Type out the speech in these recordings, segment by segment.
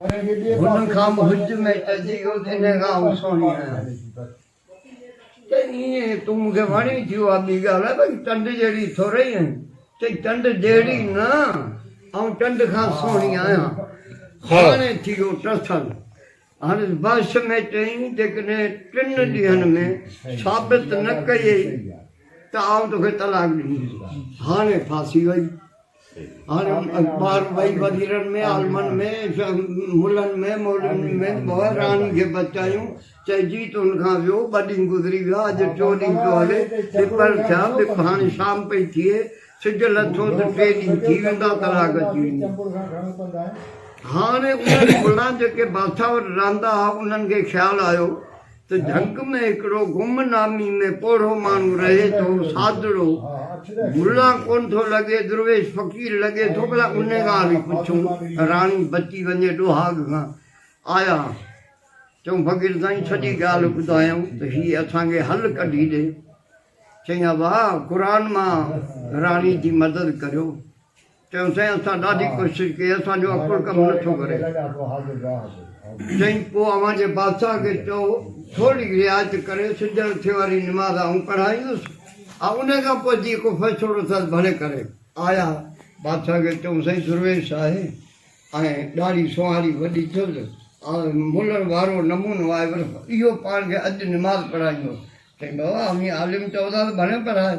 هن کان مهج ۾ چئجي ويو ته ان کان آئون سهڻي آهيان. چئي ايئن تون مون کي وڻي ٿي اها ٻي ڳالهه آهي باقي چنڊ جهڙي ٿورئي آهين. چئي چنڊ جهڙي نه، آئون چنڊ کان سهڻي آهيان. هاڻي ٿي ويو ٽسل. هاڻي بحث ۾ چئي جيڪڏهن ٽن ڏينهن ۾ ثابت نه ڪيئي ته آئون توکي طلاق ڏينديس. هاڻي ڦاسي وئي. هاڻي ٻاهر وئي وزيرن ۾ عالمن ۾ ملن ۾ مولوين ۾ به راڻي کي بچايون چئي جيت ان کان ويو ٻه ڏينهن گذري ويا اڄ ٽيون ڏينهن پيو هلي ٻپهر ٿيا ٻپ هاڻي شام پئي ٿئي سج لٿو ته ٽي ڏينهن ٿي ويندا ڪلاڪ اچي ويندي هاڻي انهن ملان جيڪي بادشاهه وٽ رهندا ها انهن کي خيال آيو ته جهنگ ۾ هڪڙو گم نامي ۾ پوڙهو ماڻهو رهي ٿو، سادڙو، ملا ڪونه ٿو لڳي، درويش فقير لڳي ٿو، ڀلا ان ڳالهه ئي پڇون ته راڻي بچي وڃي ڏوهاڳ کان، آيا چئون فقير سائين سڄي ڳالهه ٻڌايائون ته هي اسان کي حل ڪڍي ڏي، چئين ابا قرآن مان راڻي جي مدد ڪريو. چيم سائين اسان ڏاڍي ڪوشش ڪئي اسان جو عقل ڪم نه ٿو ڪري. چيم پوء اوهان جي بادشاهه کي چئو ٿورڙي رعايت ڪري سج اٿيء واري نماز آئون پڙهائيندس آء انهي کان پوء جيئن ڪو فيصلو رٿس ڀلي ڪري. آيا بادشاهه کي چئون سائين درويش آهي ۽ ڏاڙهي سونهاري وڏي ٿيس آء ملڻ وارو نمونو آهي پر اهو پاڻ کي اڄ نماز پڙهائيندو. چيم بابا اوهين عالم چئو ٿا ته ڀلي پڙهائي.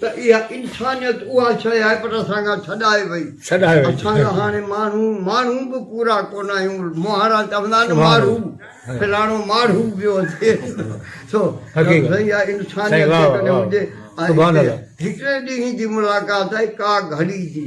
ته اها انسانيت اها شيء آهي پر اسان کان ڇڏائي وئي. اسان کان هاڻي ماڻهو ماڻهو به پورا ڪونه آهيون. مهاڻا چوندا آهن ماڙهو فلاڻو ماڙهو ويو اچي سو سائين اها انسانيت جيڪڏهن هجي ۽ هڪڙي ڏينهن جي ملاقات آهي ڪا گهڙي جي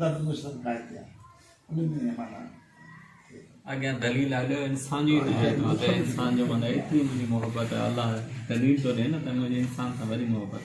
درد جو سر ڪائي ٿي آهي ان ۾ هي مانا اڳيان دليل آليو انسان جو ته هي ٿو ته انسان جو مانا ايتري منهنجي محبت الله دليل ٿو ڏي نه ته منهنجي انسان سان وري محبت